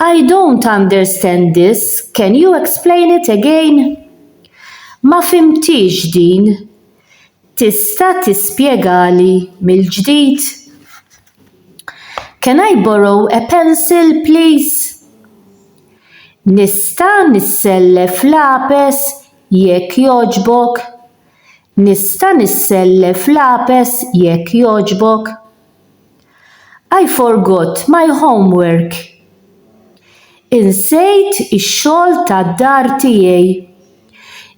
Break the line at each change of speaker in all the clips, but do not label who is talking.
I don't understand this, can you explain it again? Ma fhimthiex din, tista' tispjegali mill-ġdid? Can I borrow a pencil please? Nista' nissellef lapes jekk jogħġbok? Nista' nissellef lapes jekk jogħġbok? I forgot my homework. Insejt ix-xogħol tad-dar tiegħi.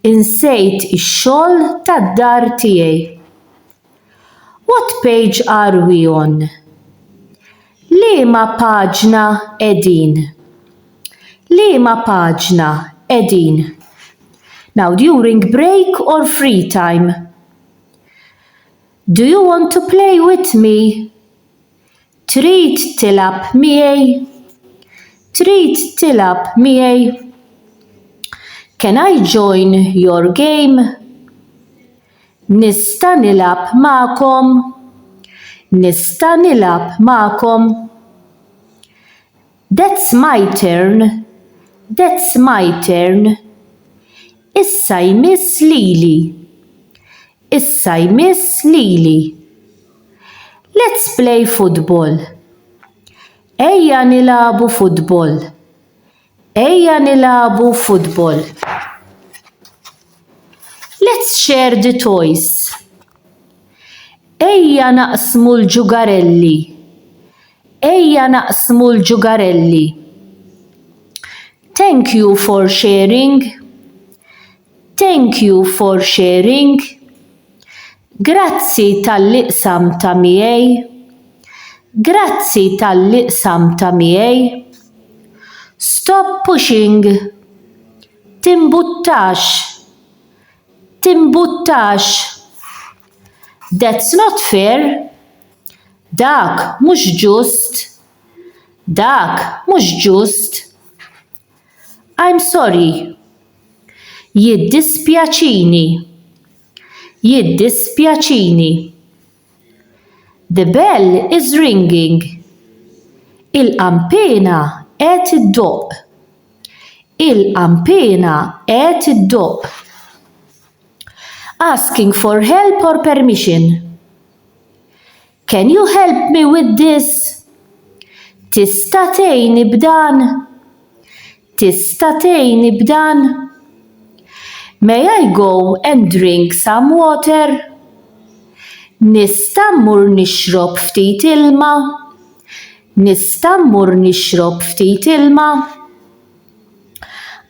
Insejt ix-xogħol tad-dar tiegħi. What page are we on? Liema paġna qegħdin? Liema paġna qegħdin? Now during break or free time. Do you want to play with me? Trid tilgħab miegħi? Trid tilgħab miegħi? Can I join your game? Nista' nilgħab magħkom? Nista' nilgħab magħkom? That's my turn, that's my turn, Issa jmiss lili, issa jmiss lili, Let's play football, Ejja nilagħbu futbol, ejja nilagħbu futbol, Let's share the toys, Ejja naqsmu l-ġugarelli, Ejja naqsmu l-ġugarelli. Thank you for sharing. Thank you for sharing. Grazzi talli qsamtha miegħi. Grazzi talli qsamtha miegħi. Stop pushing. Timbuttax. Timbuttax. That's not fair. Dak mhux ġust! Dak mhux ġust! I'm sorry! Jiddispjaċini! Jiddispjaċini! The bell is ringing! Il-qanpiena qed iddoqq! Il-qanpiena qed iddoqq! Asking for help or permission! Can you help me with this? Tista' tgħinni b'dan? Tista' tgħinni b'dan? May I go and drink some water? Nista' mmur nixrob ftit ilma? Nista' mmur nixrob ftit ilma?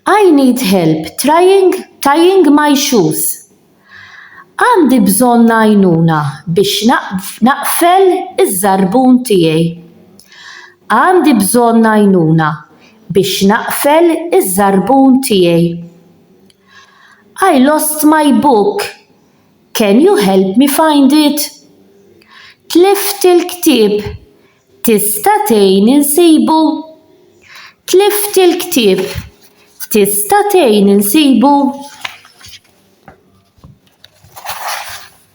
I need help trying tying my shoes. Għandi bżonn għajnuna biex naqfel iż-żarbun tiegħi. Għandi bżonn għajnuna biex naqfel iż-żarbun tiegħi. I lost my book, can you help me find it? Tlift il-ktieb, tista' tgħin insibu? Tlift il-ktieb, tista' tgħin insibu?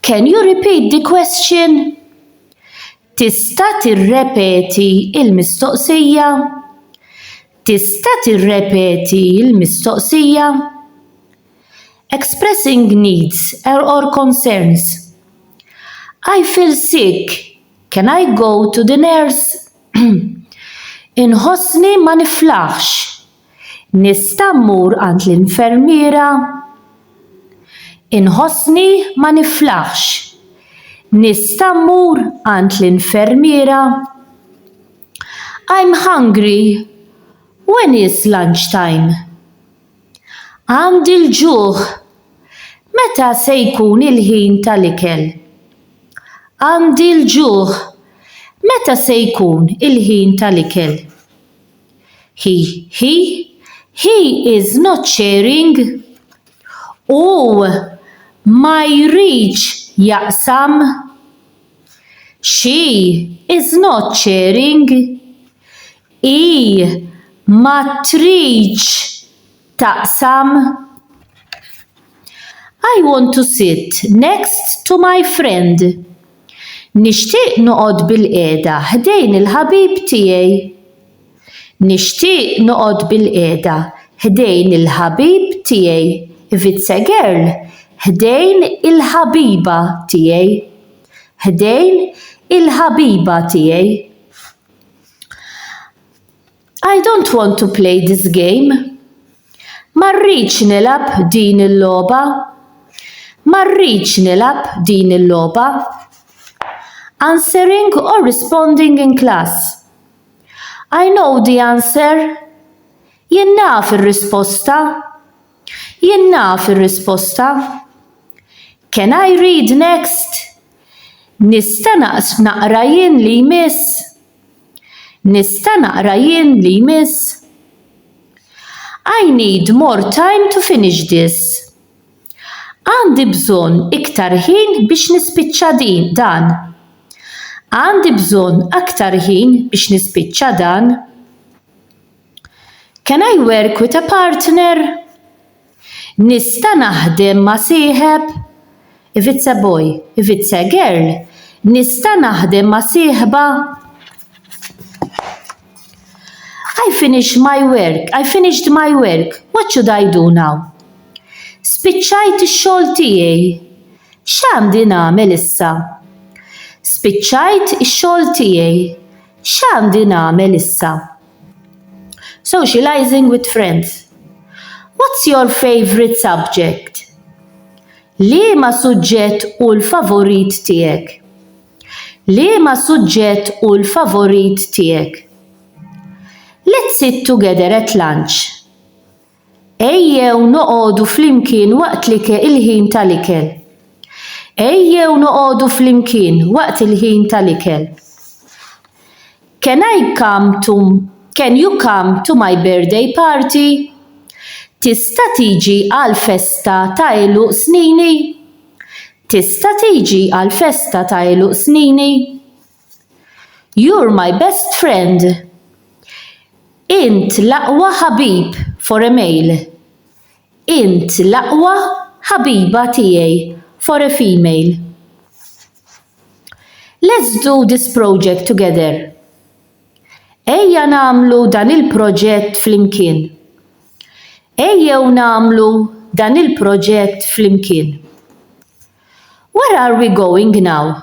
Can you repeat the question? Tista' tirrepeti il-mistoqsija? Tista' tirrepeti il-mistoqsija? Expressing needs or, or concerns. I feel sick. Can I go to the nurse? Inħossni ma niflaħx. Nista' mmur għand l-infermiera? Inħossni ma niflaħx. Nista' mmur għand l-infermiera? I'm hungry. When is lunch time? Għandi l-ġuħ. Meta se jkun il-ħin tal-ikel? Għandi l-ġuħ. Meta se jkun il-ħin tal-ikel? He, he, he is not sharing. Hu ma jridx jaqsam. She is not sharing. Hi ma tridx taqsam I want to sit next to my friend Nixtieq noqgħod bilqiegħda ħdejn il-ħabib tiegħi Nixtieq noqgħod bilqiegħda ħdejn il-ħabib tiegħi If it's a girl, ħdejn il-ħabiba tiegħi ħdejn il-ħabiba tiegħi. I don't want to play this game. Ma rridx nilgħab din il-logħba. Ma rridx nilgħab din il-logħba. Answering or responding in class. I know the answer. Jien naf ir-risposta. Jien naf ir-risposta. Can I read next? Nista' naqra jien li jmiss? Nista' naqra jien li jmiss? I need more time to finish this. Għandi bżonn iktar ħin biex nispiċċa din, dan. Għandi bżonn aktar ħin biex nispiċċa dan. Can I work with a partner? Nista' naħdem ma' sieħeb? If it's a boy, if it's a girl, nista' naħdem ma' sieħba? I finish my work, I finished my work, what should I do now? Spiċċajt ix-xogħol tiegħi, x'għandi nagħmel issa? Spiċċajt ix-xogħol tiegħi, x'għandi nagħmel issa? Socializing with friends. What's your favorite subject? Liema suġġett hu l-favorit tiegħek? Liema suġġett hu l-favorit tiegħek? Let's sit together at lunch. Ejjew noqogħdu flimkien waqt l-ike il-ħin ta' l-ikel. Ejjew noqogħdu flimkien waqt il-ħin ta' l-ikel. Can I come to Can you come to my birthday party? Tista' tiġi għall-festa ta' għeluq snini? Tista' tiġi għall-festa ta' għeluq snini? You're my best friend Int l-aqwa ħabib for a male Int l-aqwa ħabiba tiegħi for a female Let's do this project together Ejja nagħmlu dan il-proġett flimkien Ejjew nagħmlu dan il-proġett flimkien Where are we going now?